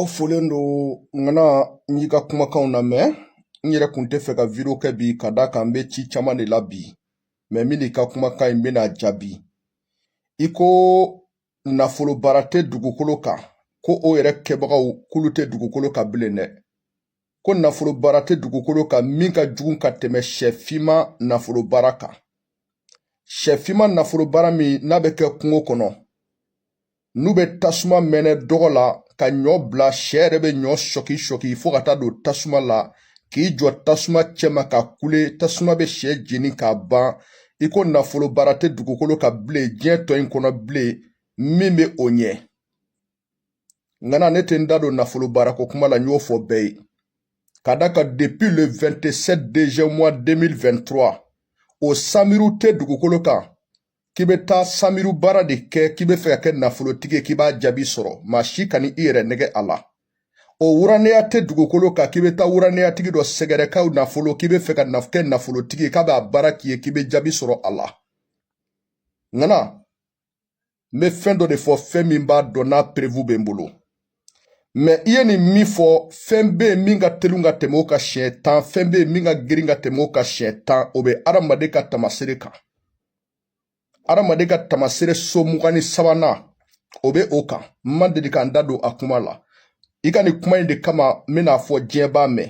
aw folen don ŋana n y'i ka kumakanw lamɛn n yɛrɛ kun tɛ fɛ ka video kɛ bi ka d'a kan n bɛ ci caman de la bi mɛ min n'i ka kumakan in bɛna jaabi i ko nafolo baara tɛ dugukolo kan ko o yɛrɛ kɛbagaw k'olu tɛ dugukolo kan bilen dɛ ko nafolo baara tɛ dugukolo kan min ka jugu ka tɛmɛ sɛfinma nafolo baara kan sɛfinma nafolo baara min n'a bɛ kɛ kungo kɔnɔ n'u bɛ tasuma mɛnɛ dɔgɔ la ka ɲɔ bila sɛ yɛrɛ bɛ ɲɔ sɔki sɔki fo ka taa don tasuma la k'i jɔ tasuma cɛma ka kule tasuma bɛ sɛ jeni k'a ban i ko nafolo baara tɛ dugukolo kan bilen diɲɛ tɔ in kɔnɔ bilen min bɛ o ɲɛ ŋana ne tɛ n da don nafolo baarako kuma la n y'o fɔ bɛɛ ye ka d'a kan depuis le 27 deuxième mois 2023 o samiru tɛ dugukolo kan k'i bɛ taa samiru baara de kɛ k'i bɛ fɛ ka kɛ nafolotigi ye k'i b'a jaabi sɔrɔ maa si kan'i yɛrɛ nɛgɛn a la o wuranɛya tɛ dugukolo kan k'i bɛ taa wuranɛyatigi dɔ sɛgɛrɛ k'aw nafolo k'i bɛ fɛ ka kɛ nafolotigi ye k'a b'a baara k'i ye k'i bɛ jaabi sɔrɔ a la ŋana n bɛ fɛn dɔ de fɔ fɛn min b'a dɔn n'a preuve bɛ n bolo mɛ i ye nin min fɔ fɛn bɛ yen min ka teli ka tɛmɛ o kan siɲɛ tan fɛn bɛ yen min ka girin ka tɛmɛ o kan siɲɛ tan o bɛ adamaden ka tamasere kan adamaden ka tamasere so mugan ni sabanan o bɛ o kan n ma deli ka n da don a kuma la i ka nin kuma in de kama n bɛn'a fɔ diɲɛ b'a mɛn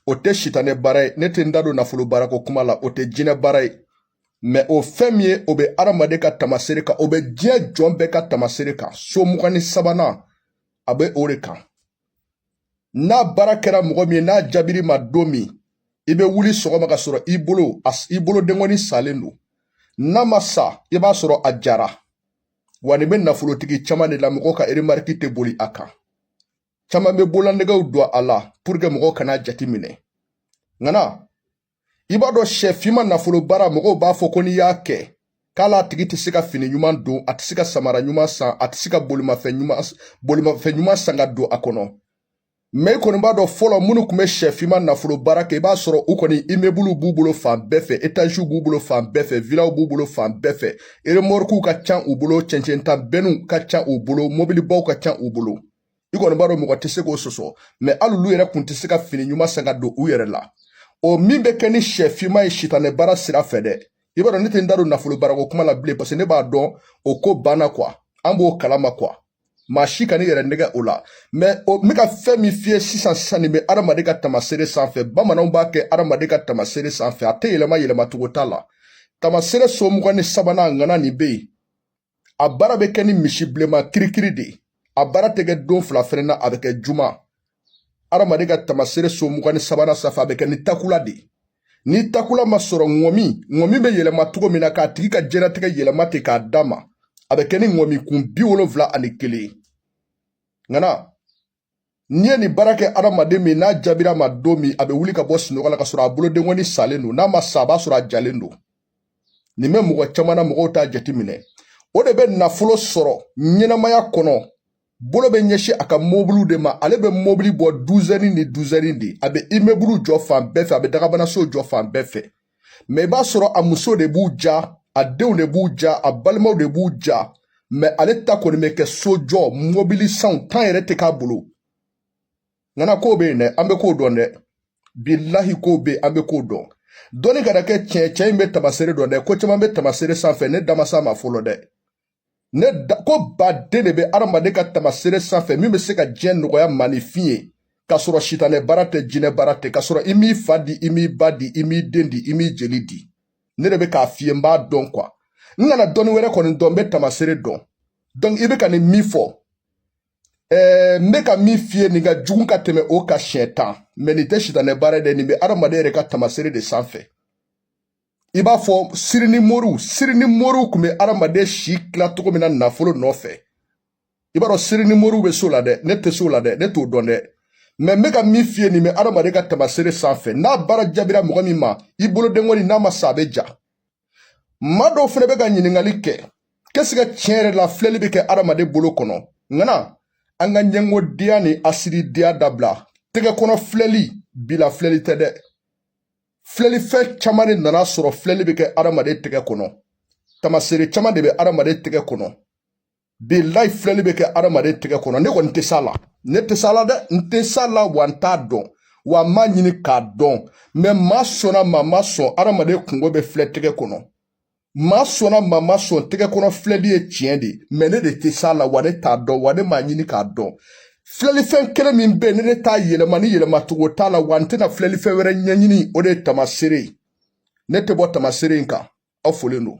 o tɛ sitanɛ baara ye ne tɛ n da don nafolo baarako kuma la o tɛ jinɛ baara ye mɛ o fɛn min ye o bɛ adamaden ka tamasere kan o bɛ diɲɛ jɔn bɛɛ ka tamasere kan so mugan ni sabanan a bɛ o de kan n'a baara kɛra mɔgɔ min ye n'a jaabir'i ma don min i bɛ wuli sɔgɔma ka sɔrɔ i bolo i bolo denkɔni salen don n'a ma sa i b'a sɔrɔ a jara wa nin bɛ nafolotigi caman de la mɔgɔ ka remarque tɛ boli a kan caman bɛ bololanɛgɛw don a la pour que mɔgɔw kana jate minɛ ŋana i b'a dɔn sɛ finma nafolo baara mɔgɔw b'a fɔ ko n'i y'a kɛ k'a latigi tɛ se ka fini ɲuman don a tɛ se ka samara ɲuman san a tɛ se ka bolimafɛn ɲuman san ka don a kɔnɔ mɛ i kɔni b'a dɔn fɔlɔ minnu tun bɛ sɛ finma nafolo baara kɛ i b'a sɔrɔ u kɔni imebuluw b'u bolo fan bɛɛ fɛ etaziw b'u bolo fan bɛɛ fɛ vilaw b'u bolo fan bɛɛ fɛ eremɔrikuw ka ca u bolo cɛncɛnta bɛnniw ka ca u bolo mobilibaw ka ca u bolo i kɔni b'a dɔn mɔgɔ tɛ se k'o sɔsɔ mɛ hali olu yɛrɛ kun tɛ se ka fini ɲuman san ka don u yɛrɛ la o min bɛ kɛ ni sɛ finma ye sitanɛ baara sira fɛ dɛ i b'a dɔn ne tɛ n da don nafolo baarako kuma la bilen parce que ne b'a dɔn o ko banna quoi an b'o kalama quoi maa si kan'i yɛrɛ nɛgɛn o la mɛ n bɛ ka fɛn min f'i ye sisan sisan nin bɛ adamaden ka tamasere sanfɛ bamananw b'a kɛ adamaden ka tamasere sanfɛ a tɛ yɛlɛma yɛlɛmacogo t'a la tamasere so mugan ni sabanan ŋana nin bɛ yen a baara bɛ kɛ ni misi bilenma kirikiri de ye a baara tɛ kɛ don fila fɛnɛ na a bɛ kɛ juma adamaden ka tamasere so mugan ni sabanan sanfɛ a bɛ kɛ ni takula de ye ni takula ma sɔrɔ ŋɔmi ŋɔmi bɛ yɛlɛma cogo min na k'a tigi ka diɲɛnatigɛ yɛlɛma ten k'a d'a ma a bɛ kɛ ni ŋɔmi kun bi wolonfila ani kelen ye ŋana n'i ye nin baara kɛ adamaden min n'a jaabira ma don min a bɛ wuli ka bɔ sunɔgɔ la k'a sɔrɔ a bolodenkɔni salen don n'a ma sa a b'a sɔrɔ a jalen don nin bɛ mɔgɔ caman na mɔgɔw t'a jateminɛ o de bɛ nafolo sɔrɔ ɲɛnamaya kɔnɔ bolo bɛ ɲɛsin a ka mobiliw de ma ale bɛ mobili bɔ duzɛni ni duzɛni de a bɛ imebulu jɔ fan bɛɛ fɛ a bɛ dagabanaso jɔ fan bɛɛ fɛ mɛ i b'a sɔrɔ a muso de b'u ja a denw de b'u ja a balimaw de b'u ja mɛ ale ta kɔni bɛ kɛ sojɔ mobilisanw tan yɛrɛ tɛ k'a bolo ŋana kow bɛ yen dɛ an bɛ kow dɔn dɛ bilahi kow bɛ yen an bɛ kow dɔn dɔnni kana kɛ tiɲɛ cɛ in bɛ tamasere dɔn dɛ ko caman bɛ tamasere sanfɛ ne da ma s'a ma fɔlɔ dɛ ne da koba de bɛ adamaden ka tamasere sanfɛ min bɛ se ka diɲɛ nɔgɔya maaninfin ye k'a sɔrɔ sitanɛ baara tɛ jinɛ baara tɛ k'a sɔrɔ i m'i fa di i m'i ba di i m'i den di i m'i jeli di ne de bɛ k'a f'i ye n b'a dɔn kuwa n kana dɔnni wɛrɛ kɔni dɔn n bɛ tamasere dɔn donc i bɛ ka nin min fɔ ɛɛ n bɛ ka min f'i ye nin ka jugu ka tɛmɛ o kan siɲɛ tan mɛ nin tɛ sitanɛ baara ye dɛ nin bɛ adamaden yɛrɛ ka tamasere de sanfɛ i b'a fɔ siri ni moriw siri ni moriw tun bɛ adamaden si tila cogo min na nafolo nɔfɛ i b'a dɔn siri ni moriw bɛ s'o la dɛ ne tɛ s'o la dɛ ne t'o dɔn dɛ mɛ n bɛ ka min f'i ye nin bɛ adamaden ka tamasere sanfɛ n'a baara jaabira mɔgɔ min ma i bolodenkɔni n'a ma sa a bɛ ja maa dɔw fana bɛ ka ɲininkali kɛ k'ɛsike tiɲɛ yɛrɛ la filɛli bɛ kɛ adamaden bolo kɔnɔ ŋana an ka ɲɛngodenya ni hasididenya dabila tɛgɛ kɔnɔ filɛli bi la filɛli tɛ dɛ filɛlifɛn caman de nan'a sɔrɔ filɛli bɛ kɛ adamaden tɛgɛ kɔnɔ tamaseere caman de bɛ adamaden tɛgɛ kɔnɔ bilayi filɛli bɛ kɛ adamaden tɛgɛ kɔnɔ ne kɔni tɛ s'a la ne tɛ s'a la dɛ n tɛ s'a la wa n t'a dɔn wa n m'a ɲini k'a dɔn mɛ maa sɔnna maa ma sɔn adamaden kunko bɛ filɛ tɛgɛ kɔnɔ maa sɔnna maa ma sɔn tɛgɛ kɔnɔ filɛli ye tiɲɛ de mɛ ne de tɛ s'a la wa ne t'a dɔn wa ne m'a ɲini k'a dɔn filɛlifɛn kelen min bɛ yen ni ne t'a yɛlɛma ni yɛlɛmacogo t'a la wa n tɛna filɛlifɛn wɛrɛ ɲɛɲini o de ye tamaseere ye ne tɛ bɔ tamaseere in kan aw folen don